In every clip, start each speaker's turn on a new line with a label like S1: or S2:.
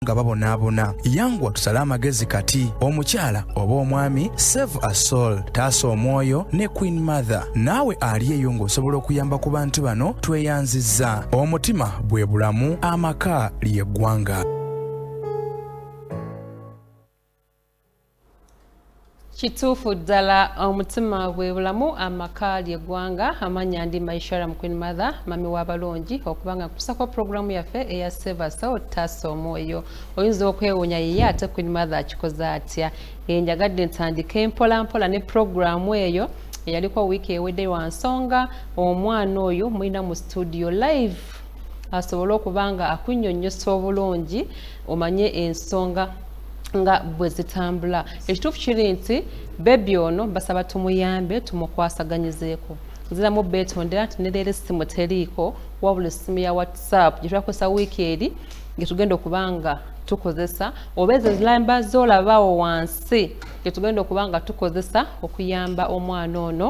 S1: nga babonaabona yanguwa tusale amagezi kati omukyala oba omwami save a soul taasa omwoyo ne queen mother naawe ali eyo ng'osobola okuyamba ku bantu bano tweyanzizza omutima bwe bulamu amaka ly'eggwanga
S2: kituufu ddala omutima gwe bulamu amaka ly'eggwanga amanya ndi maishara mu queen mother mami w'abalungi okubanga nkutusako pulogulaamu yaffe eya sevasa otaasa omwoyo oyinza okwewuunya yiye ate queen mother akikoze atya e njagadde ntandike mpola mpola ne pulogulaamu eyo eyaliko wiiki ewedde wa nsonga omwana oyo mulina mu studio live asobole okuba nga akunyonyosa obulungi omanye ensonga nga bwe zitambula ekituufu kiri nti bebi ono basaba tumuyambe tumukwasaganyizeeko nziramu beetondera nti neleero essimu teriiko wabula essimu ya whatsapp gye twakozesa wiiki eri nge tugenda okuba nga tukozesa oba ezo zilamba zolabawo wansi nge tugenda okuba nga tukozesa okuyamba omwana ono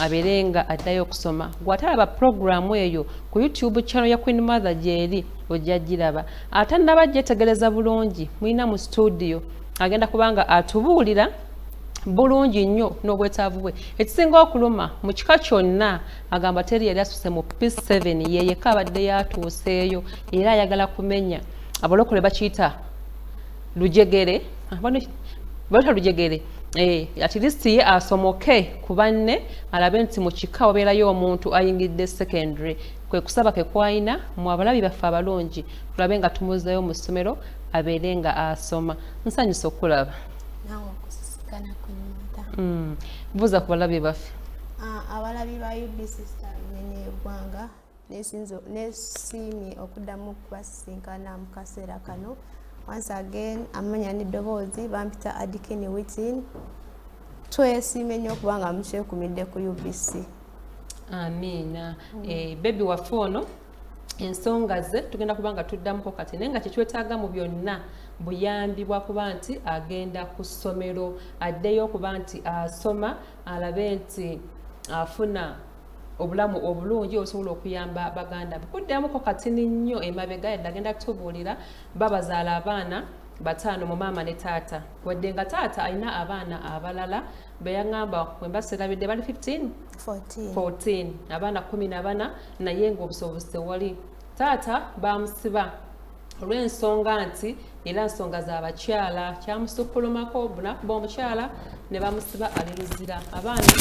S2: abeere nga addayo okusoma gwatalaba puroguramu eyo ku youtube channel ya queen mother gyeri ojja giraba atannaba gyetegereza bulungi mulina mu situdiyo agenda kubanga atubuulira bulungi nnyo n'obwetaavu bwe ekisinga okuluma mu kika kyonna agamba teri yali asuse mu peace 7 yeyeka abadde yatuuseeyo era ayagala kumenya abalokole bakiyita lujegere ah, baleta lujegere eh, at least ye asomoke ku banne alabe nti mu kika wabeerayo omuntu ayingidde secondary kwe kusaba ke kwalina mu abalabi baffe abalungi tulabe nga tumuzzayo mu ssomero abeere nga asoma nsanyusa okulaba
S3: mm. buuza ku balabi baffe
S2: abalabi
S3: ba ubc eggwanga nesiimye okuddamu okubasisinkana mu kaseera kano once again amanya n'eddoboozi bampita adikini witin twesiime nnyo okubanga mukyekumidde ku ubc amiina
S2: mm. eh, bebi waffe ono ensonga ze tugenda kuba nga tuddamuko kati naye nga kyetwetaaga mu byonna buyambi bwakuba nti agenda ku ssomero addeyo okuba nti asoma alabe nti afuna obulamu obulungi osobola okuyamba baganda be kuddamuko katini nnyo emabega yadde agenda kutubuulira babazaala abaana bataano mu maama ne taata wadde nga taata alina abaana abalala beyaŋamba wemba serabidde bali 15 14. 14 abaana 14 naye nga obusobozi tewali taata bamusiba olw'ensonga nti era nsonga za bakyala kyamusukkulumako bunakuba omukyala ne bamusiba ali luzira abaana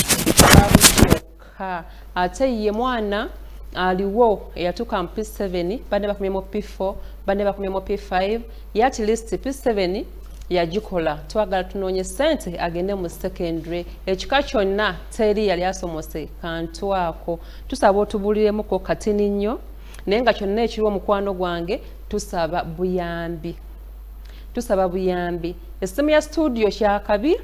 S2: babuok Ha, ate ye mwana aliwo eyatuuka mu P7 banne bakomye mu P4 banne bakomye mu P5 ye at least P7 yagikola twagala tunoonye sente agende mu secondary ekika kyonna teri yali asomose kantu ako tusaba otubuliremuko katini nnyo naye nga kyonna ekiri omukwano gwange tusaba buyambi tusaba buyambi essimu ya studio kyakabi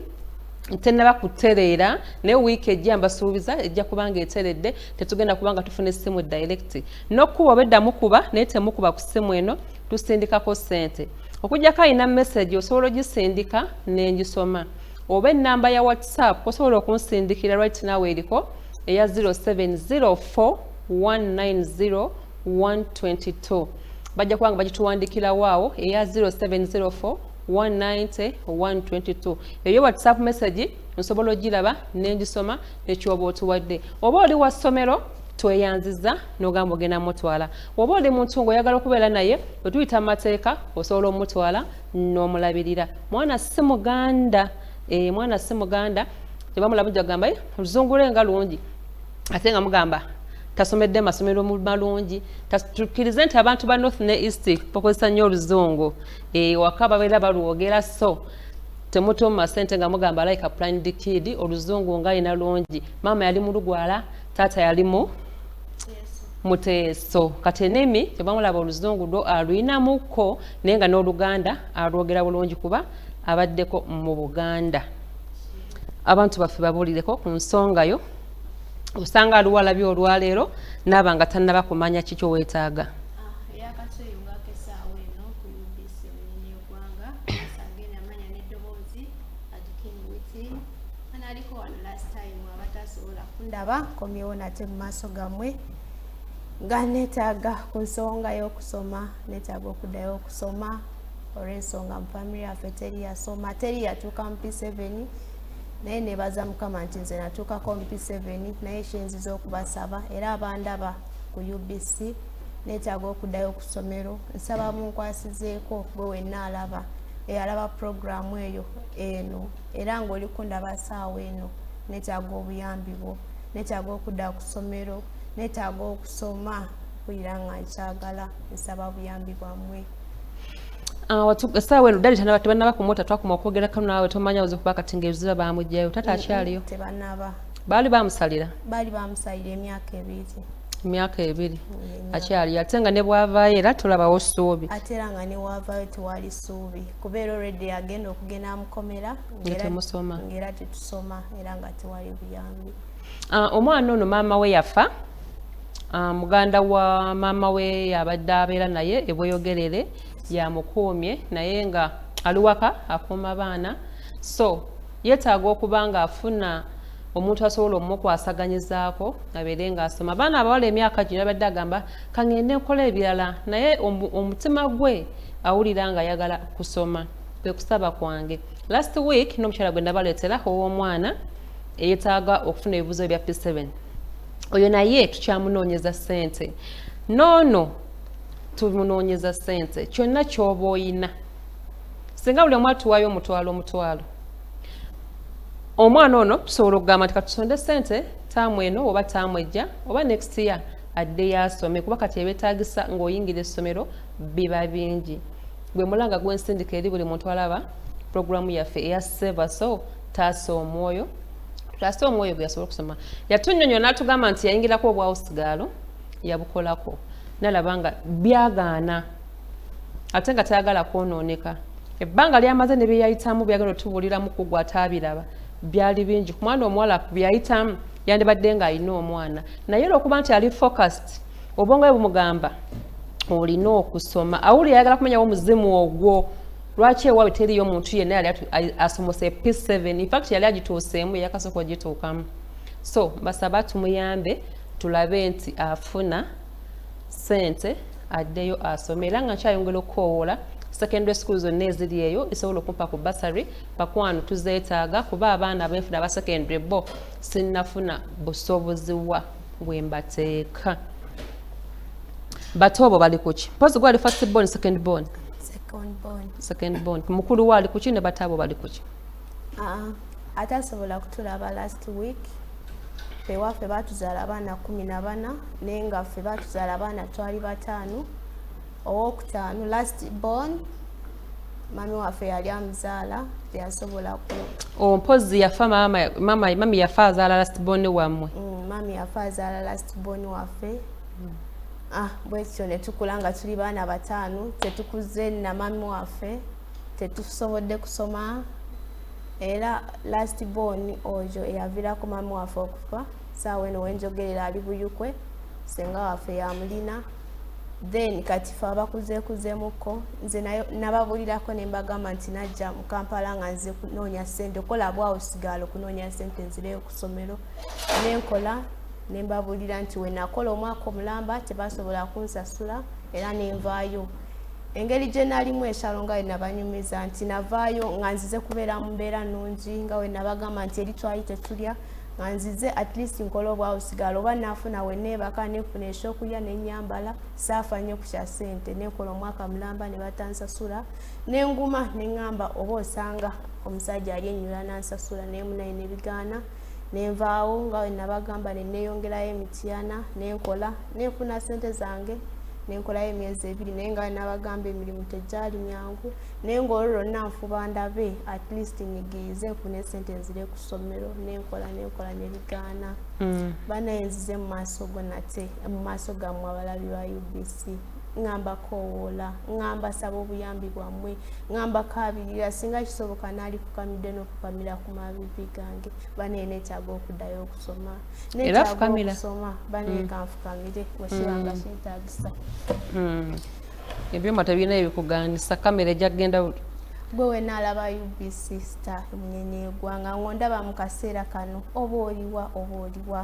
S2: tenaba kutereera naye wiiki ejja mbasuubiza ejja kubanga eteredde tetugenda kubanga tufuna essimu direct nokukuba obeddamu kuba naye temukuba ku ssimu eno tusindikako sente okujjako alina message osobola ogisindika nengisoma oba enamba ya whatsapp osobola okunsindikira right nawe eriko eya 0704190122 bajja kubanga bagituwandikirawo awo eya 0704 190 eyo whatsapp message nsobola ogiraba nengisoma nekyoba otuwadde oba oli wa ssomero tweyanziza nogamba ogenda mutwala oba oli muntu ngaoyagala okubeera naye wetuyita mu mateeka osobola omutwala n'omulabirira mwana si muganda e, mwana si muganda tebamulamuja kugamba eh, oluzungula enga lungi ate nga mugamba tasomedde masomero malungi tukirize nti abantu ba north ne east bakozesa nnyo oluzungu ewaka babeera balwogera so temutuuma sente nga mugamba like apline dikidi oluzungu nga alina lungi maama yali mulugwala taata yalimu muteeso kati enimi kyebamulaba oluzungu lwo aluyinamukko naye nga n'oluganda alwogera bulungi kuba abaddeko mu buganda abantu baffe babuulireko ku nsonga yo osanga aluwalabye olwaleero naaba nga tannaba kumanya kikyo weetaaga
S3: aliko wano last time abatasobola kundaba komyewo nate mu maaso gammwe nga neetaaga ku nsonga y'okusoma neetaaga okuddayo okusoma olw'ensonga mu famiry yaffe teri yasoma teri yatuuka mu p7 naye nebaza mukama nti nze natuukako mu p7 naye kyenziza okubasaba era abandaba ku ubc neetaaga okuddayo ku ssomero nsaba munkwasizeeko gwe wenna alaba eyalaba pulogulaamu eyo eno era ng'oli kundaba saawa eno neetaaga obuyambi bwo neetaaga okudda ku ssomero neetaaga okusoma mpulira nga nkyagala nsaba buyambi bwammwe Ah,
S2: saawa eno dali tanaba tebanaba ku mota twakuma okwogera kano naawe tomanya oze kuba kati ngaebiziba bamugjayo tata akyaliyo
S3: baali bamusalira
S2: baali bamusalira
S3: emyaka ebiri
S2: emyaka ebiri akyaliyo ate nga ne bwavaayo era tulabawo ssuubi ate era nga ne waavaayo
S3: tewali ssuubi kubeera olredi agenda okugenda amukomera ngaera tetusoma era nga tewali buyambi ah, omwana
S2: ono maama we yafa ah, muganda wa maama we yabadde abeera naye ebweyogerere yamukuumye naye nga aliwaka akuuma baana so Yetaaga okuba nga afuna omuntu asobola omukwasaganyizaako abeere ng'asoma abaana abawala emyaka gino yabadde agamba kangende nkola ebirala naye omutima gwe awulira nga ayagala kusoma kwe kusaba kwange last week n'omukyala gwe nabaleetera ow'omwana eyetaaga okufuna ebibuzo bya p7 oyo naye tukyamunoonyeza sente noono tumunoonyeza sente kyonna kyoba oyina singa buli omu atuwayo omutwalo omutwalo omwana ono tusobola okugamba nti katusonde sente taamu eno oba taamu ejja oba next year adde yasome kuba kati ebetagisa ngaoyingira essomero biba bingi gwe mulanga gwensindika eri buli muntu alaba programu yaffe eya seva so taasa omwoyo tutaase omwoyo gwe yasobola okusoma yatunyonyola natugamba nti yayingirako obwawusigaalo yabukolako nalaba nga byagaana ate nga tayagala kwonooneka ebbanga lyamaze ne bye yayitamu byagenda otubuuliramu ku gwe ataabiraba byali bingi ku mwana omuwala bye yayitamu yandibadde ng'alina omwana naye olwokuba nti ali focused obwongo bwe bumugamba olina okusoma awuli ayagala kumanyawo omuzimu ogwo lwaki ewaabwe teriyo omuntu yenna yali asomose p7 infact yali agituuseemu yakasooka ogituukamu so basaba tumuyambe tulabe nti afuna sente addeyo asome era nga nkyayongera okukoowoola secondary school zonna eziri eyo esobola okumpa ku basary bakwano tuzeetaaga kuba abaana abenfuna aba secondary bo sinnafuna busobozi wa bwembateeka bato obo bali kuki mpozi gwali first born second born second born mukulu waali kuki ne bataabo bali kuki ah, atasobola
S3: kutulaba last week fewaffe batuzala abaana kumi na bana naye nga ffe batuzala abaana twali bataano owokutaano last born mami waffe yali amuzaala teyasobola ku ompozi oh, yafa mama
S2: mama mami yafa azaala last born wamwe mm, mami yafa
S3: azaala last born waffe mm. ah bwekityo netukula nga tuli baana bataano tetukuze na mami waffe tetusobodde kusoma era last born oyo eyavirako mama waffe okufa saawa eno wenjogerera ali buyukwe senga waffe yamulina then kati fe abakuzekuzemukko nze nababulirako nembagamba nti najja mukampala nga nze kunoonya sente okola bwawo sigala okunoonya sente nzireyo kusomero nenkola nembabulira nti wenakola omwaka omulamba tebasobola kunsasula era nenvaayo engeri gye nalimu eshalo nga wenabanyumiza nti navaayo nga nzize kubeera mu mbeera nungi nga wenabagamba nti eri twali tetulya nga nzize at least nkola obwawusigala oba nafuna weneebaka nefuna ekyokulya nenyambala saafa nnyo ku kya sente nekola omwaka mulamba ne batansasula nenguma neŋamba oba osanga omusajja ali ennyula nansasula naye munayina ebigaana nenvaawo nga wenabagamba neneyongerayo emityana nenkola nenfuna sente zange nenkolayo emyezi ebiri naye nga nabagamba emirimu tegyali myangu naye nga olwo lwonna nfuba ndabe at least nyigiize nfuna esente nzire ku ssomero nenkola nenkola nebigaana mm. banaye nzize mu maaso go nate mu maaso gammwe abalabi ba ubc ngamba kowoola ngamba saba obuyambi bwammwe ngamba kabirira singa kisoboka naali kukamidde fukamira ku mabibi gange bane netaaga okudayo okusoma netaagokusoma bane mm. kanfukamire wekibanga mm. kyetagisa mm.
S2: ebyuma tebirina ebikuganisa kamera ejja kugenda gwe wenaalaba
S3: ubc star emunyenye egwanga ngondaba mu kaseera kano oba oliwa oba oliwa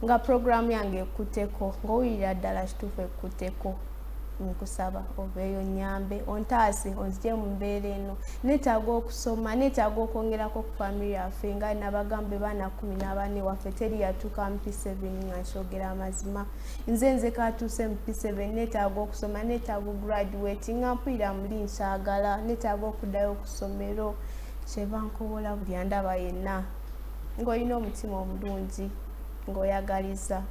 S3: nga puroguramu yange ekuteko ngaowulira ddala kituufu ekuteko nkusaba oveeyo nyambe ontaase onzije mu mbeera eno neetaaga okusoma neetaaga okwongerako ku famiri yaffe nga nabagambe baana kumi n'abaana ewaffe teri yatuuka mu p7 nga nkyogera amazima nze nze katuuse mu p7 neetaaga okusoma neetaaga ograduate nga mpulira muli nkyagala neetaaga okuddayo okusomero kyebankobola buli andaba yenna ng'olina omutima omulungi ng'oyagaliza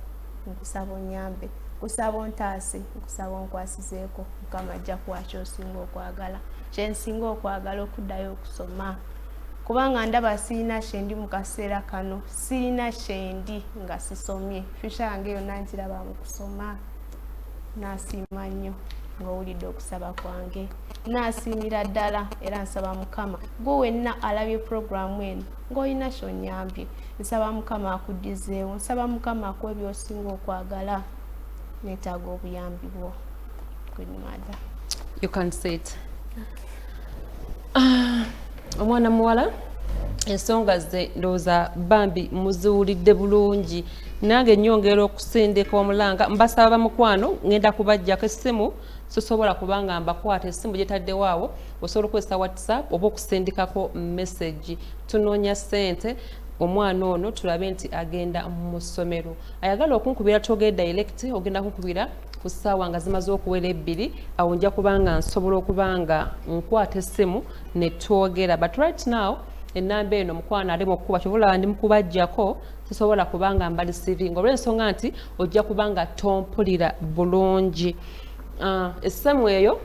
S3: nkusaba onyambe nkusaba ontaase nkusaba onkwasizeeko mukama ajja kuwa kyosinga okwagala kyensinga okwagala okuddayo okusoma kubanga ndaba sirina kyendi mu kaseera kano sirina kyendi nga sisomye fyusha yange yonna nkiraba mu kusoma nasiima nnyo ng'owulidde okusaba kwange nasiimira ddala era nsaba mukama gwe wenna alabye puroguramu eno ng'olina kyonyambye nsaba mukama akuddizeewo nsaba mukama akuwa ebyosinga okwagala netaaga obuyambi bwo good mother you can
S2: say it ah, omwana muwala ensonga ze ndowooza bambi muziwulidde bulungi nange nyongera okusindika omulanga mbasaba bamukwano ngenda kubajjako essimu sisobola kubanga mbakwata esimu gyetaddewo awo osobola okukozesa whatsapp oba okusindikako message tunoonya sente omwana ono tulabe nti agenda mu ssomero ayagala okunkubira twogere direct ogenda kunkubira ku ssaawa nga zimaze okuwera ebbiri awo nja kubanga nsobola okuba nga nkwata essimu ne twogera but right now ennamba eno mukwano ali mu kkuba kyobola ndi mukubajjako sisobola kubanga mbali siringa olw'ensonga nti ojja kuba nga tompulira bulungi ah, essaamu eyo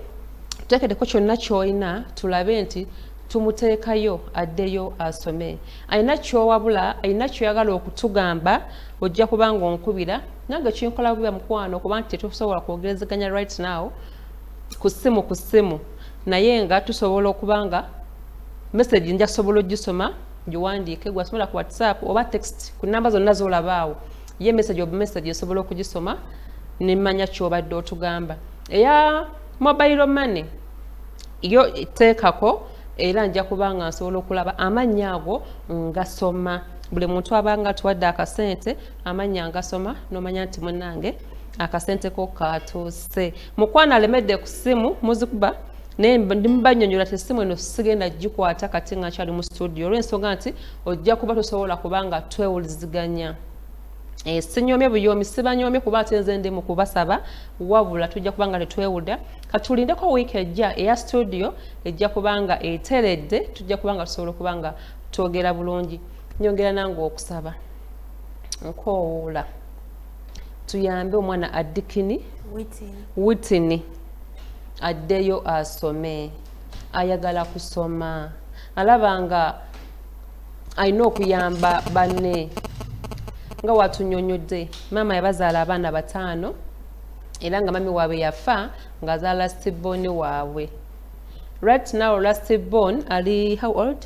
S2: tutekedeko kyonna kyolina tulabe nti tumuteekayo addeyo asome alina kyowabula alina kyoyagala okutugamba ojja kuba nga onkubira nange kinkola bubiba mukwano kuba nti tetusobola kwogerezeganya right now ku ssimu ku ssimu naye nga tusobola okuba nga message njasobola ogisoma giwandiike gwasobola ku whatsapp oba text ku namba zonna zolabaawo ye message obu message esobola okugisoma nemanya kyobadde otugamba eya mobile money yo teekako era nja kuba nga nsobola okulaba amannya ago ngasoma buli muntu abanga atuwadde akasente amannya ngasoma nomanya nti munange akasente ko katuuse mukwano alemedde ku simu muzikuba naye ndimubanyonyola ti simu eno sigenda gikwata kati nga nkyali mu studio olwensonga nti ojja kuba tosobola kubanga twewuliziganya Eh, sinyomye buyomi sibanyomye kuba ate nze ndi mu kubasaba wabula tujja kuba nga tetwewuda katulindeko wiiki ejja eya studio ejja kuba nga eteredde tujja kuba nga tusobola okuba nga twogera bulungi nyongera nange okusaba nkoowuula tuyambe omwana addikini witini addeyo asome ayagala kusoma alaba nga alina okuyamba banne nga watunyonyodde maama yabazaala abaana bataano era nga mami waabwe yafa ngaazaala lastiboni waabwe right now lastibon ali how old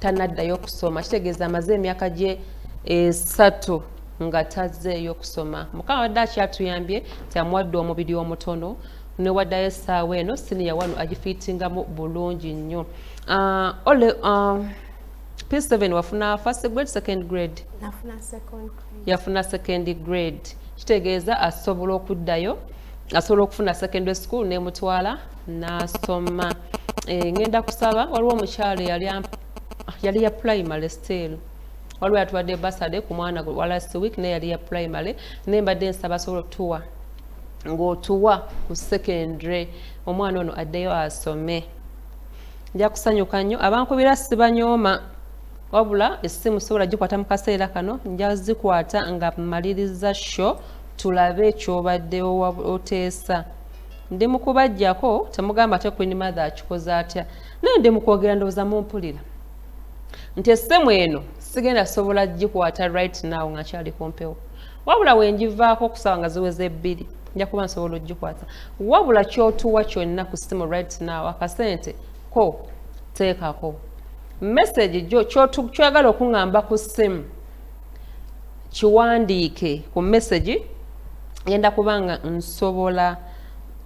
S2: tanaddayo kusoma kitegeeza amaze emyaka gye esatu nga tazzeeyo kusoma mukama wadde akyatuyambye nti amuwadde omubiri omutono newaddayo essaawa eno siniya wano agifiitingamu bulungi nnyo ah, ole ah, p7 wafuna first grade second grade yafuna second grade kitegeeza asobola okuddayo asobola okufuna secondary school nemutwala n'asoma eh, ngenda kusaba waliwo omukyalo yali ya primary still waliwo yatuwadde basade ku mwana gwe walast week naye yali ya primary naye mbadde nsaba asobola okutuwa ng'otuwa ku secondary omwana ono addeyo asome nja kusanyuka nnyo abankubira sibanyooma wabula essimu sobola gikwata mu kaseera kano nja zikwata nga maliriza sho tulabe ekyobadde oteesa Ndi mukubajjako temugamba ate Queen Mother akikoze atya. Naye ndi mukwogera ndoza mumpulira. Nti essemu eno sigenda sobola gikwata right now nga kyali kumpewo. Wabula wenjivaako okusaba nga ziweze ebbiri. Nja kuba nsobola ogikwata. Wabula kyotuwa kyonna ku ssimu right now akasente ko teekako. Message jo kyoyagala okungamba ku ssimu. kiwandiike ku message ngenda kubanga nsobola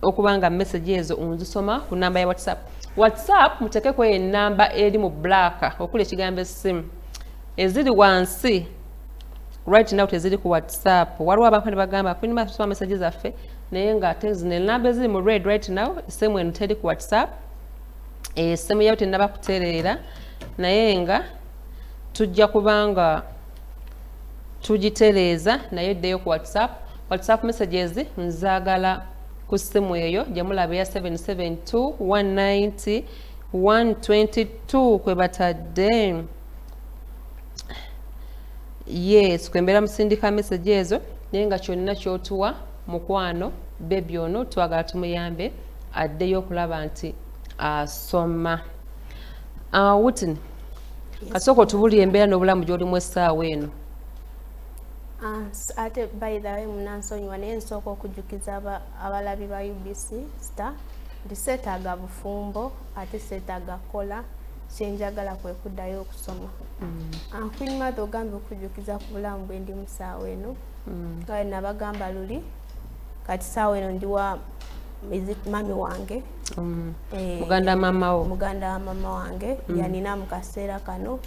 S2: okubanga message ezo onzisoma ku namba ya whatsapp whatsapp mutekeko enamba eri mu black okuli ekigambo esimu eziri wansi right now teziri ku whatsapp waliwo abantu nebagamba kulina basoma message zaffe naye nga ate zino enamba eziri mu red right now esimu eno teri ku whatsapp esimu yayo tenaba kutereera naye nga tujja kubanga tugitereeza naye ddeyo ku whatsapp whatsapp messages nzagala ku ssimu eyo gyemulaba eya 772 190 kwe batadde yes kwembeera musindika message ezo naye nga kyonna kyotuwa mukwano bebi ono twagala tumuyambe addeyo okulaba nti asoma uh, ah, witini kasooka otubulira embeera n'obulamu gy'olimu essaawa eno ah,
S3: ate by the way munansonyiwa naye nsooka okujjukiza abalabi ba ubc star nti seetaaga bufumbo ate seetaaga kukola kyenjagala kwe kuddayo okusoma mm. ah, queen mother ogambye okujjukiza ku bulamu bwe ndi musaawa eno mm. kale nabagamba luli kati saawa eno ndiwa mami wange mm. eh,
S2: muganda wa mama wo muganda wa mama wange
S3: mm. yanina mu kaseera kano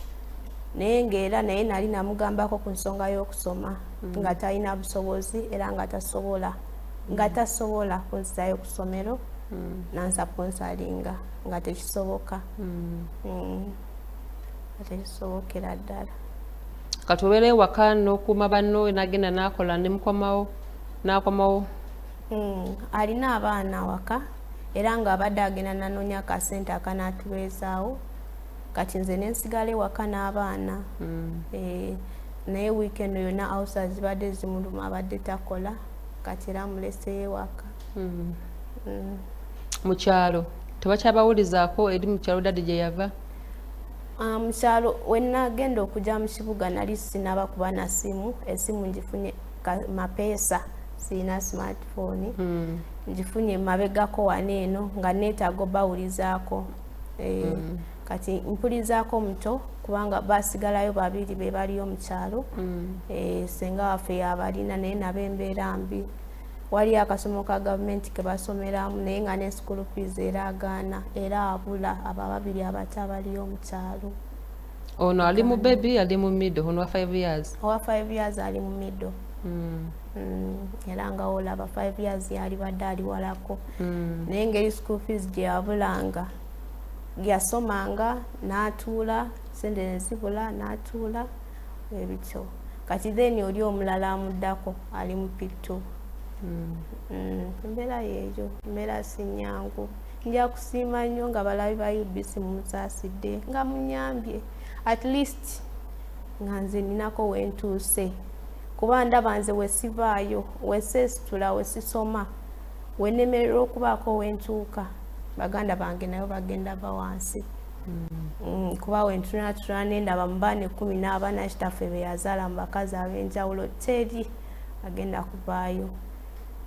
S3: naye ngaera naye nali namugambako ku nsonga y'okusoma mm. nga talina busobozi era nga tasobola nga tasobola kunzizayo ku ssomero nansaponsalinga nga tekisoboka nga tekisobokera ddala kati obeera
S2: ewaka nokuuma banno nagenda nakola nemukomawo nakomawo hmm,
S3: alina abaana awaka era nga abadde agenda nanonya akasente akanatubeezaawo kati nze nensigala ewaka n'abaana hmm. eh, naye weekend yona ausa zibadde zimuluma abadde takola kati era amuleseyo ewaka hmm.
S2: mukyalo tebakyabawulizaako eri mukyalo dadi gyeyava Ah, mu
S3: kyalo we nagenda okujja mu kibuga nali sinaba kuba na simu esimu ngifunye mapeesa sirina smartphone hmm. ngifunye mabegako wana eno nga neetaaga obawulizaako eh, hmm. kati mpulizaako omuto kubanga basigalayo babiri be baliyo mu kyalo hmm. eh, senga waffe yabalina naye nabo embeera mbi waliyo akasomo ka gavumenti ke basomeramu naye nga ne school fees era agaana era abula abo ababiri abato abaliyo mu kyalo ono
S2: ali mu bebi ali mu middle ono wa five years owa five years
S3: ali mu middle hmm. Hmm, era nga olaba five years yalibadde ali walako hmm. naye ngeri school fees gye yabulanga yasomanga n'atuula sente ne zibula n'atuula ebityo kati then oli omulala amuddako ali mu picto hmm. hmm, embeera yeeyo embeera sinyangu nja kusiima nnyo nga balabi ba ubc mumusaasidde nga munyambye at least nga nze ninako wentuuse kuba ndaba nze wesivaayo wesesitula wesisoma wenemerera okubaako wentuuka baganda bange nayo bagenda va wansi Mm, kuba wentunatuna nendaba mu baana ekkumi n'abana kitaffe be yazaala mu bakazi ab'enjawulo teri agenda kuvaayo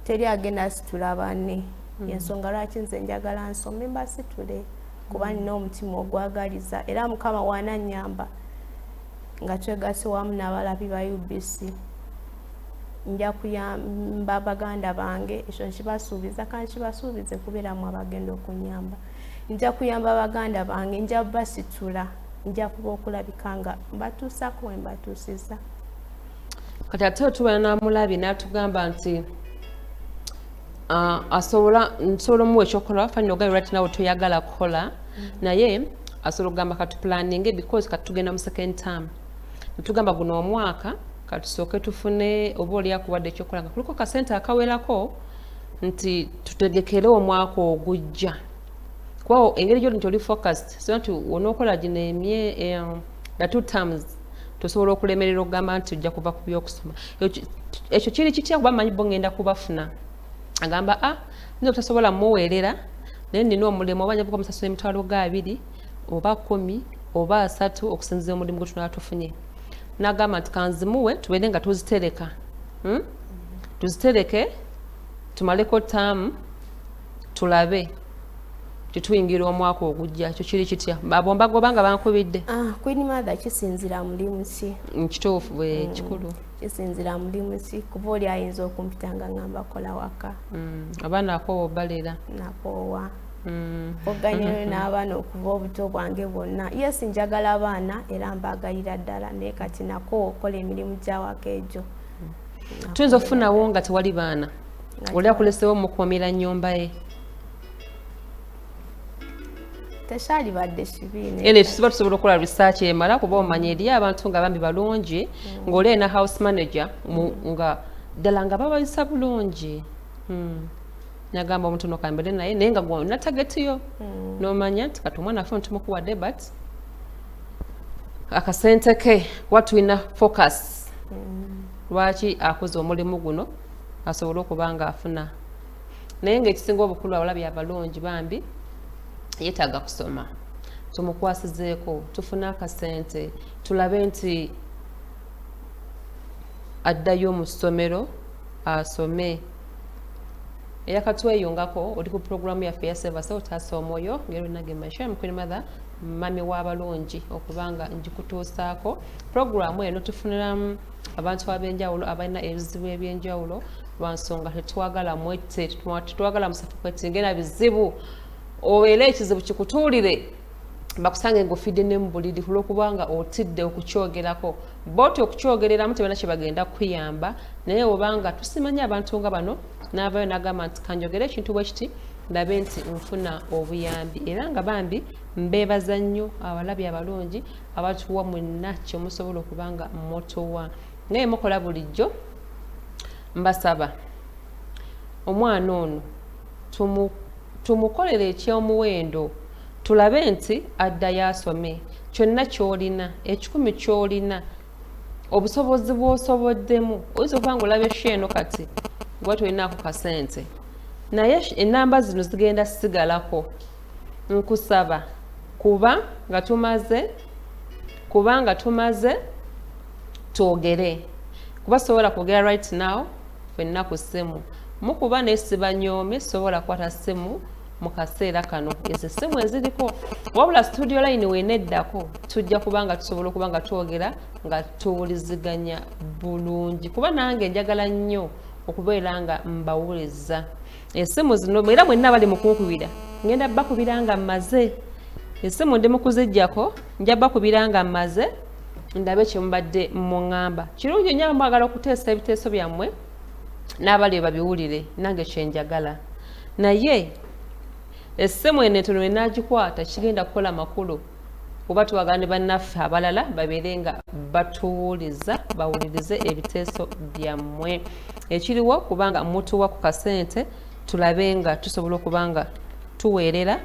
S3: teri agenda asitula banne mm. yensonga lwaki nze njagala nsome mbasitule kuba mm. nina omutima ogwagaliza era mukama wananyamba nga twegase wamu n'abalabi ba ubc nja kuyamba baganda bange ekyo nkibasuubiza kandi kibasuubize kubeeramu abagenda okunyamba nja kuyamba baganda bange nja basitula nja kuba okulabika nga mbatuusako we mbatuusiza
S2: kati ate otubala namulabi natugamba nti ah, asobola nsobola omuwa ekyokukola wafanira ogabi right nawe toyagala kukola mm-hmm. naye asobola okugamba katupulaninge because katugenda mu second term netugamba guno omwaka katusooke tufune oba olyakuwadde ekyokukola nga kuliko kasente akawerako nti tutegekere omwaka ogujja kuba engeri gyoli nti oli focused so nti onookola gino emye the two terms tosobola okulemerera okugamba nti ojja kuva ku byokusoma ekyo kiri kitya kuba manyi bo ngenda kubafuna agamba a ah, nze obutasobola muweerera naye nina omulimu oba njavuka omusasula emitwalo ga abiri oba kumi oba asatu okusinzira omulimu gwe tunaba tufunye nagamba nti kanzimuwe tubeere nga tuzitereka hmm? tuzitereke tumaleko taamu tulabe tetuyingira omwaka ogujja ekyo kiri kitya abo mbagoba nga bankubidde ah, queen mother
S3: kisinzira mulimu ki nkituufu mm, bwe mm,
S2: kikulu kisinzira mulimu
S3: ki kuba oli ayinza okumpita nga ngamba kola waka mm, abaana akoowa
S2: obalera nakoowa
S3: Mm. oganyulo n'abaana okuva obuto bwange bwonna yes njagala abaana era mbaagalira ddala naye kati nako okola emirimu gyawaka egyo tuyinza
S2: okufunawo nga tewali baana oli akulesewo mukuumira nyumba ye
S3: tekyalibadde kibiine tusiba tusobola okukola
S2: research emala kuba omanya eriyo abantu nga bambi balungi mm. ng'olee na house manager nga ddala nga babayisa bulungi hmm. nagamba omuntu nokambere naye naye nga gwona tagetiyo mm. nomanya nti kati omwana afe ntumukuwadde but akasente ke kuba tulina focus mm. lwaki akoze omulimu guno asobole okuba nga afuna naye ngaekisinga obukulu awala byabalungi bambi yetaaga kusoma tumukwasizeeko tufune akasente tulabe nti addayo mu ssomero asome era katweyungako oli ku pulogulaamu yaffe ya sevasa otaasa omwoyo ngerunage maisha mukuli mathe mami w'abalungi okuba nga ngikutuusaako pulogulaamu eno tufuniramu abantu ab'enjawulo abalina ebizibu eby'enjawulo lwa nsonga tetwagala mwette tetwagala musafu kwetingera bizibu obeera ekizibu kikutuulire bakusange ng'ofidde ne mu buliri kulw'okubanga otidde okukyogerako boti okukyogereramu tebana kyebagenda kukuyamba naye obanga tusimanyi abantu nga bano navayo nagamba nti kanjogere ekintu bwekiti ndabe nti nfuna obuyambi era nga bambi mbebaza nnyo abalabi abalungi abatuwa mwenna kyemusobola okuba nga motowa naye mukola bulijjo mbasaba omwana ono tumukolere eky'omuwendo tulabe nti addayo asome kyonna ky'olina ekikumi ky'olina obusobozi bw'osoboddemu oyinza okuba nga olaba esho eno kati oba tolinaako kasente naye enamba zino zigenda sigalako nkusaba kuba nga tumaze kuba nga tumaze twogere kuba sobola kwogera right now fenna ku ssimu mukuba naye sibanyoome sobola kukwata ssimu mu kaseera kano ezo essimu eziriko wabula studio line weneddako tujja kuba nga tusobola okuba nga twogera nga tuwuliziganya bulungi kuba nange njagala nnyo okubeera nga mbawuliza esimu zino era mwenna bali mukunkubira ngenda bakubira nga mmaze esimu ndi mukuzijjako nja bakubira nga mmaze ndabe kyemubadde muŋŋamba kirungi nnyo abamwagala okuteesa ebiteeso byammwe n'abali babiwulire nange kyenjagala naye esimu eno entono enagikwata kigenda kukola makulu oba twagala ne bannaffe abalala babeere nga batuwuliza bawulirize ebiteeso byammwe ekiriwo kubanga mutuwa ku kasente tulabe nga tusobola okuba nga tuweerera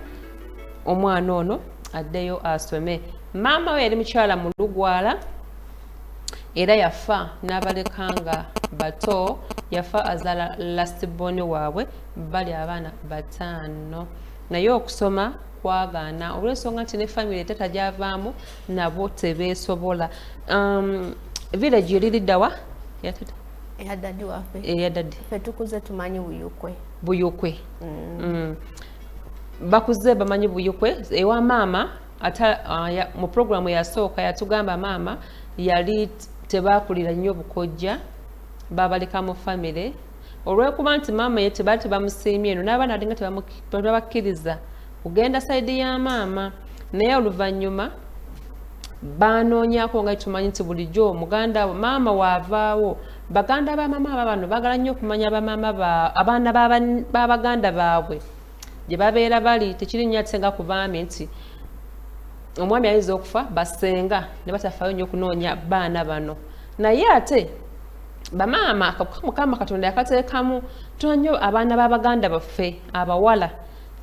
S2: omwana ono addeyo asome maama we yali mukyala mu lugwala era yafa n'abaleka nga bato yafa azaala lastiboni waabwe bali abaana bataano naye okusoma kwagaana olw'ensonga nti ne famire etata gyavaamu nabo tebeesobola um, village yoliriddawa
S3: eyadadi wafe eyadadi fe tukuze
S2: tumanyi
S3: buyukwe buyukwe
S2: mm. mm. bakuze bamanyi buyukwe ewa maama ata uh, ya, mu programu yasooka yatugamba maama yali tebakulira nnyo bukojja babaleka mu famire olwekuba nti maama ye tebaali tebamusiimye no n'abaana alinga tebabakkiriza kugenda sayidi ya maama naye oluvannyuma baanoonyako nga tumanyi nti bulijjo muganda maama waavaawo baganda ba maama aba bano bagala nnyo okumanya bamaama abaana babaganda baabwe ba gye babeera bali tekiri nnyo ate nga ku baami nti omwami ayinza okufa basenga ne batafaayo nnyo okunoonya baana bano naye ate bamaama mukama katonda yakateekamu tuna nnyo abaana b'abaganda baffe abawala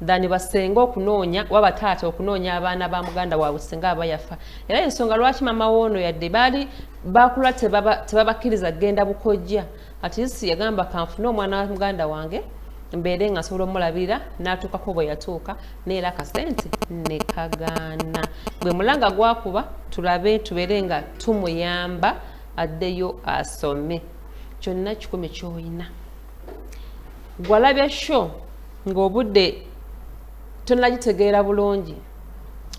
S2: thani basenga okunoonya oba bataata okunoonya abaana ba muganda waabwe singa aba yafa era ensonga lwaki maama woono yadde baali bakula tebabakkiriza kugenda bukojja at least yagamba kanfune omwana wa muganda wange mbeere nga nsobola omulabirira n'atuukako bwe yatuuka neera akasente ne kagaana gwe mulanga gwakuba tulabe tubeere nga tumuyamba addeyo asome kyonna kikumi kyolina gwalabya sho ng'obudde tonagitegeera bulungi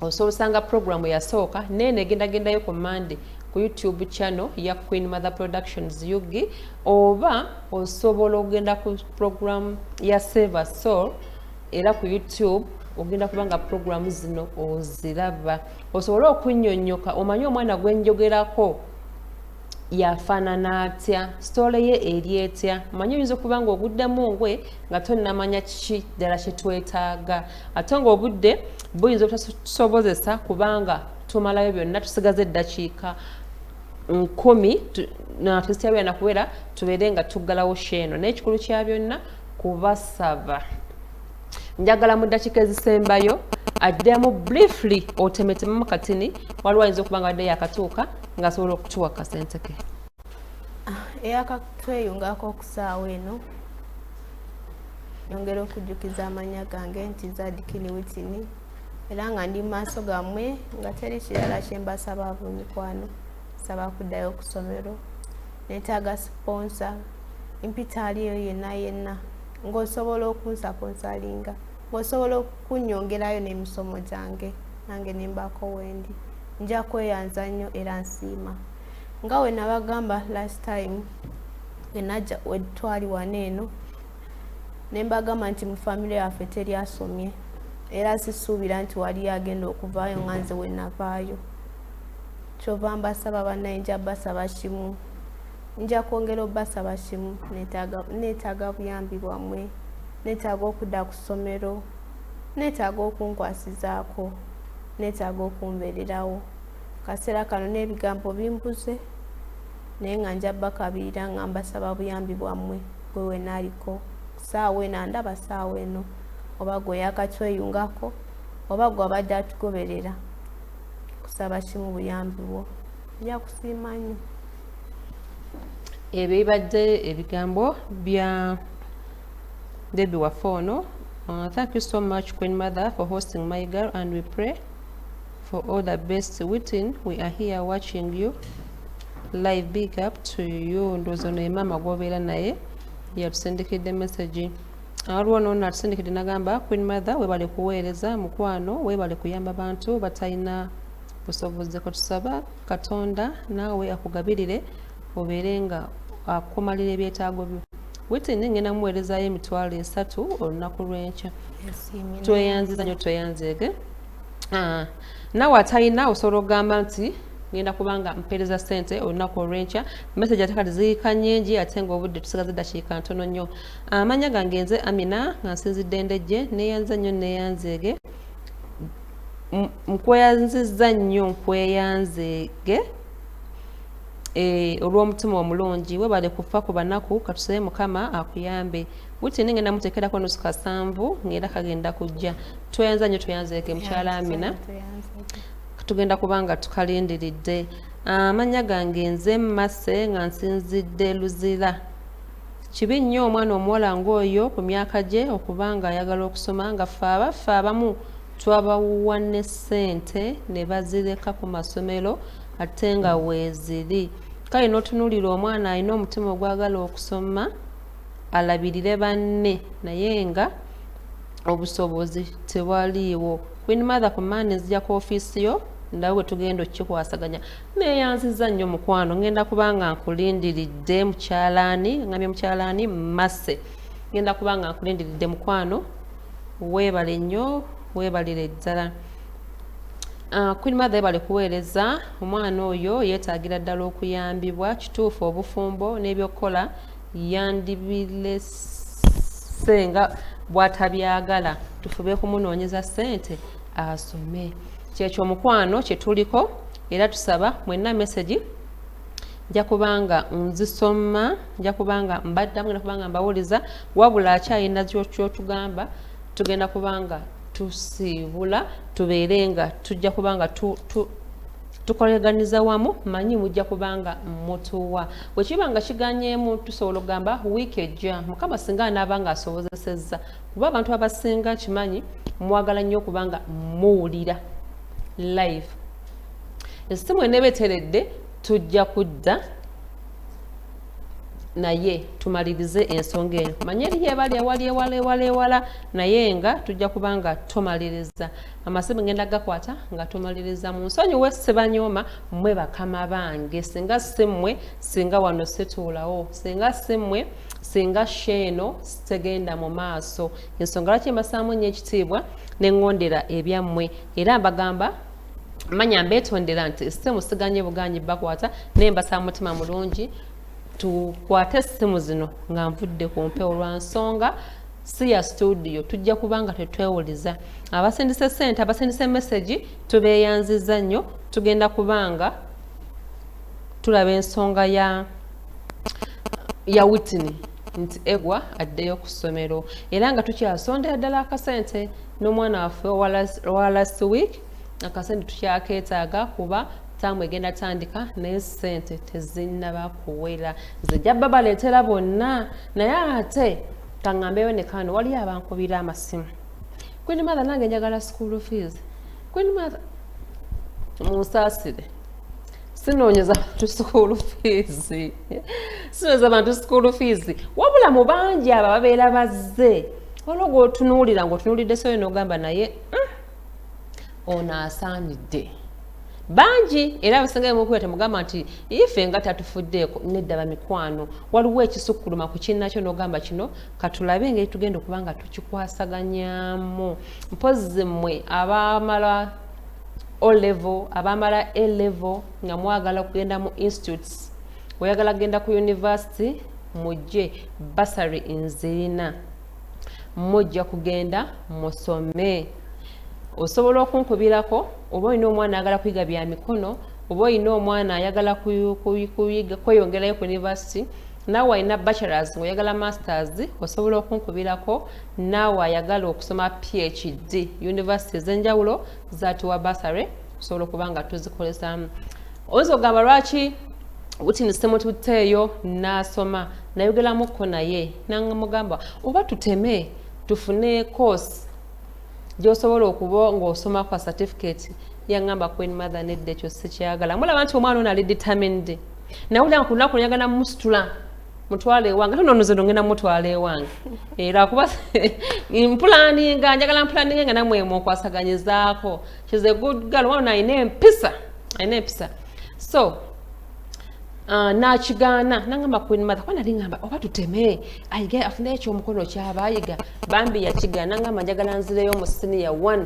S2: osobola osanga program yasooka naye negendagendayo ku monday ku youtube channel ya queen mother productions ug oba osobola okugenda ku program ya saver soul era ku youtube ogenda kuba nga program zino oziraba osobole okunyonyoka omanye omwana gwenjogerako yafaanana atya sitole ye eri etya manye oyinza okuba nga ogudde mu ngwe nga tonamanya kiki ddala kyetwetaaga ate ng'obudde buyinza obutatusobozesa kubanga tumalayo byonna tusigaza eddakiika nkumi natuzitya byana kubeera tubeere nga tuggalawo sheeno naye ekikulu kya byonna kubasaba njagala mu ddakiika ezisembayo addemu briefly otemetemamu katini waliwo ayinza okuba nga badde yakatuuka ng'asobola okutuwa kasente ke ah, eyakatweyungako
S3: okusaawa eno yongera okujjukiza amanya gange nti zadikini witini era nga ndi maaso gammwe nga teri kirala kyembasaba abunyikwano saba kuddayo okusomero netaaga siponsa mpitaali eyo yenna yenna ng'osobola okunsaponsalinga ng'osobola okunyongerayo n'emisomo gyange nange nembaako wendi nja kweyanza nnyo era nsiima nga wenabagamba last time enaja wetwali wana eno nembagamba nti mu famire yaffe teri asomye era sisuubira nti waliyo agenda okuvaayo nga nze wenavaayo kyova mbasaba banaye nja basaba kimu nja kwongera obasaba kimu netaaga buyambi bwamwe netaaga okudda ku ssomero netaaga okunkwasizaako netaaga okumbererawo kaseera kano n'ebigambo bimbuze naye nga nja bakabirira nga mbasaba buyambi bwammwe gwe wenaaliko saawa eno andaba saawa eno oba gwe yakatweyungako oba gwe abadde atugoberera kusaba kimu buyambi bwo nja kusiima nyo
S2: ebyo bibadde ebigambo bya debi waffe ono uh, thank you so much queen mother for hosting my girl and we pray for all the best witin we are here watching you live big up to you ndowooza ono ye maama gwobeera naye yatusindikidde message waliwo noono atusindikidde nagamba queen mother webale kuweereza mukwano webale kuyamba bantu batalina busobozi katusaba katonda naawe akugabirire obeere nga akumalira ebyetaago byo witini ngenda muweerezayo emitwalo esatu olunaku lwenkya tweyanziza nyo tweyanzeege ah, nawe atalina osobola okugamba nti ngenda kubanga mpereza sente olunaku olwenkya message ate kati ziika nyingi ate nga obudde tusigaze dakiika ntono nnyo amanya gange nze amina nga nsinzidde ndejje neyanza nnyo neyanzeege nkweyanziza nnyo nkweyanzeege eh, olw'omutima omulungi webale kufa ku banaku katusebe mukama akuyambe Wiki eno ngenda muteekerako nusu kasanvu ng'era kagenda kujja tweyanza nnyo tweyanzeeke mukyala Amina tugenda kuba nga tukalindiridde amannya gange nze mmase nga nsinzidde luzira kibi nnyo omwana omuwala ng'oyo ku myaka gye okuba ng'ayagala okusoma nga ffe abaffe abamu twabawuwa ne ssente ne bazireka ku masomero ate nga weeziri kale n'otunuulira omwana alina omutima ogwagala okusoma alabirire banne naye nga obusobozi tebwaliiwo queen mother ku maani nzija ku ofiisi yo ndaba bwe tugenda okukikwasaganya neeyanziza nnyo mukwano ngenda kubanga nkulindiridde mukyalaani ngambye mukyalaani masse ngenda kubanga nkulindiridde mukwano weebale nnyo weebalire ddala ah, queen mother ebale kuweereza omwana oyo yeetaagira ddala okuyambibwa kituufu obufumbo n'ebyokukola yandibilese nga bwatabyagala tufube kumunoonyeza ssente asome kyekyo omukwano kyetuliko era tusaba mwenna mesegi nja kubanga nzisoma nja kubanga mbaddamu genda kubanga mbawuliza wabula akyalina kyotugamba tugenda kubanga tusiibula tubeere nga tujja kubanga tu, tu, tukoleganyiza wamu manyi mujja kubanga mutuwa bwe kiba nga kiganyeemu tusobola okugamba wiiki ejja mukama singa anaaba nga asobozesezza kuba abantu abasinga kimanyi mwagala nnyo okuba nga muwulira live esimu eneeba eteredde tujja kudda naye tumalirize ensonga eno manye eriyo ebali ewali ewala ewala ewala naye nga tujja kuba nga tumaliriza amasimu ngenda gakwata nga tumaliriza mu nsonyiwe sibanyooma mwe bakama bange singa simmwe singa wano situulawo singa simmwe singa sheeno sitegenda mu maaso ensonga lwaki mbasaamu nnyo ekitiibwa ne ŋŋondera ebyammwe era mbagamba manya mbeetondera nti essimu siganye buganyi bakwata naye mbasaba mutima mulungi tukwate essimu zino nga nvudde ku mpewo lwa nsonga si ya studio tujja kuba nga tetwewuliza abasindisa esente abasindisa emesegi tubeyanziza nnyo tugenda kubanga tulaba ensonga ya ya witini nti egwa addeyo ku ssomero era nga tukyasondera ddala akasente n'omwana waffe owa last week akasente tukyakeetaaga kuba taamu egenda tandika naye sente tezinnaba kuwera zijja babaleetera bonna naye ate kangambeyo ne kano waliyo abankubira amasimu queen mother nange njagala school fees queen mother munsaasire sinoonyeza bantu school fees sinoonyeza bantu school fees wabula mu bangi abo ababeera bazze olwo gwotunuulira ngaotunuulidde soyo nogamba naye mm. ono asaanidde bangi era abasingayo mukuya temugamba nti ife nga tatufuddeeko nedda bamikwano waliwo ekisukkuluma ku kinnakyo n'ogamba kino katulabe engeri tugenda okuba nga tukikwasaganyamu mpozi mmwe abamala olevo abamala elevo nga mwagala okugenda mu institutes oyagala kugenda ku university mujje basary nzirina mujja kugenda musome osobola okunkubirako oba olina omwana ayagala kuyiga bya mikono oba olina omwana ayagala kweyongerayo ku univesity naawe alina bachelors ngaoyagala masters osobola okunkubirako naawe ayagala okusoma phd univesity ezenjawulo zatiwa basary osobola okuba nga tuzikozesaamu oyinza okugamba lwaki witini semututteeyo n'asoma nayogeramukko naye namugamba oba tuteme tufune course gyosobola okuba ng'osoma kwa certificate yangamba queen mother nedda ekyo sikyagala mulaba nti omwana ono ali determined nawulira nga ku lunaku nyagala musitula mutwala ewange ate nonoze nongenda mutwala ewange era kuba mpulaninga njagala mpulaninga nga namwe munkwasaganyizaako she's a good girl wabona alina empisa alina empisa so uh, nakigaana nangamba queen mother kuba nali ngamba oba tuteme ayige afuneyo ekyomukono kyaba ayiga bambi yakigaana nangamba njagala nzireyo mu siniya one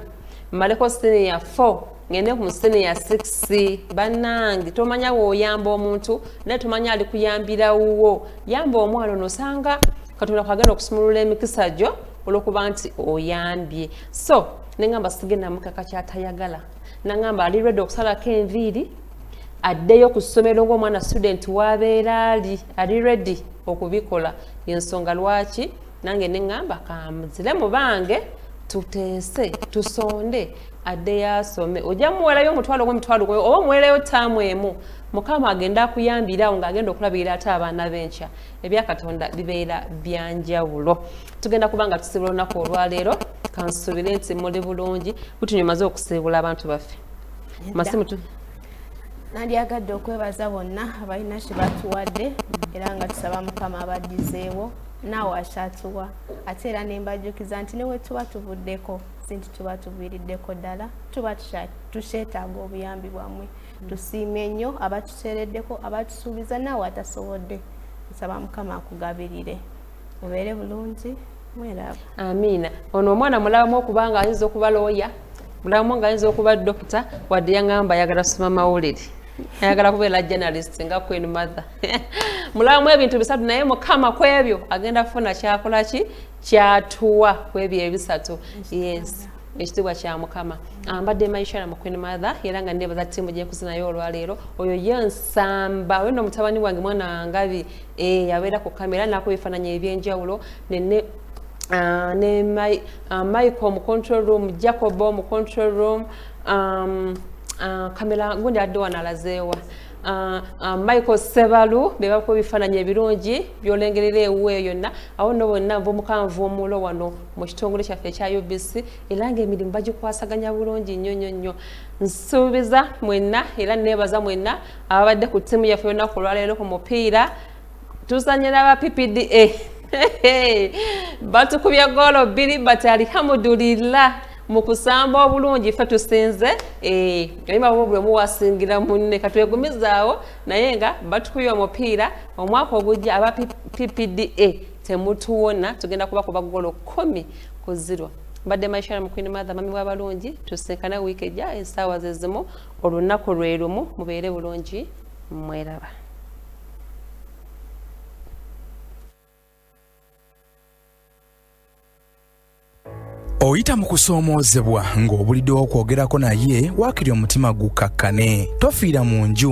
S2: mmaleko siniya four ngende ku musene ya sexy banange tomanya woyamba omuntu naye tomanya ali kuyambira wuwo yamba omwana onosanga katonda kwagenda okusumulula emikisa gyo olwokuba nti oyambye so nengamba sigenda mukaka kyatayagala nangamba ali redi okusalako enviiri addeyo ku ssomero ngaomwana student wabeera ali ali redi okubikola yensonga lwaki nange nengamba kamuzire mubange tuteese tusonde addeyo asome ojja muwerayo omutwalo gwe mitwalo gwe oba omuwerayo taamu emu mukama agenda akuyambirawo ngaagenda okulabirira ate abaana benkya ebyakatonda bibeera byanjawulo tugenda kuba nga tusiibula olunaku olwaleero kansuubire nti muli bulungi kutunywe maze okusiibula abantu baffe masimu
S3: nandyagadde okwebaza bonna abalina kye batuwadde era nga tusaba mukama abaddizeewo naawe akyatuwa ate era nembajukiza nti newe tuba tuvuddeko sinti tuba tuviiriddeko ddala tuba tukyetaaga obuyambi bwammwe mm. tusiime nnyo abatuteereddeko abatusuubiza naawe atasobodde nsaba mukama akugabirire obeere bulungi mweraaba amiina
S2: ono omwana mulabamu okubanga ayinza okuba looya mulabamu nga ayinza okuba dokita wadde yaŋamba ayagala soma mawulire ayagala kubeera journalist nga queen mother mulabamu ebintu bisatu naye mukama ku ebyo agenda kufuna kyakola ki kyatuwa ku ebyo ebisatu yes ekitiibwa kya mukama ah, mbadde maishara mu queen mother era nga nebaza tiimu gyenkuzi naye olwaleero oyo ye nsamba oyo no mutabani wange mwana wangabi eh yabeera ku kamera nakuba ebifaananyi ebyenjawulo nene uh, ne my, uh, michael mu control room jacobo mu control room um, uh, kamera gundi adde wanalazeewa Uh, uh, michael sebalu bebakuba ebifaananyi ebirungi byolengerera ewu eyo yonna awo no bonna nva omukanvu omulo wano mu kitongole kyaffe ekya ubc era nga emirimu bagikwasaganya bulungi nnyo nnyo nnyo nsuubiza mwenna era neebaza mwenna ababadde ku ttiimu yaffe olunaku olwaleero ku mupiira tuzanye n'aba ppda batukubye goolo bbiri but alihamudulillah mu kusamba obulungi fe tusinze eh, oyimabwo buli omu wasingira munne katwegumizaawo naye nga batukubye omupiira omwaka ogujja aba ppda temutuwona tugenda kuba kuba goolo kumi ku zirwa mbadde maishara mukwini madha mami wabalungi tusinkana wiiki ejja esaawa zezimu olunnaku lwelumu mubeere bulungi mweraba
S1: oyita mu kusoomoozebwa ng'obuliddewo okwogerako naye waakiri omutima gukkakkane tofiira mu nju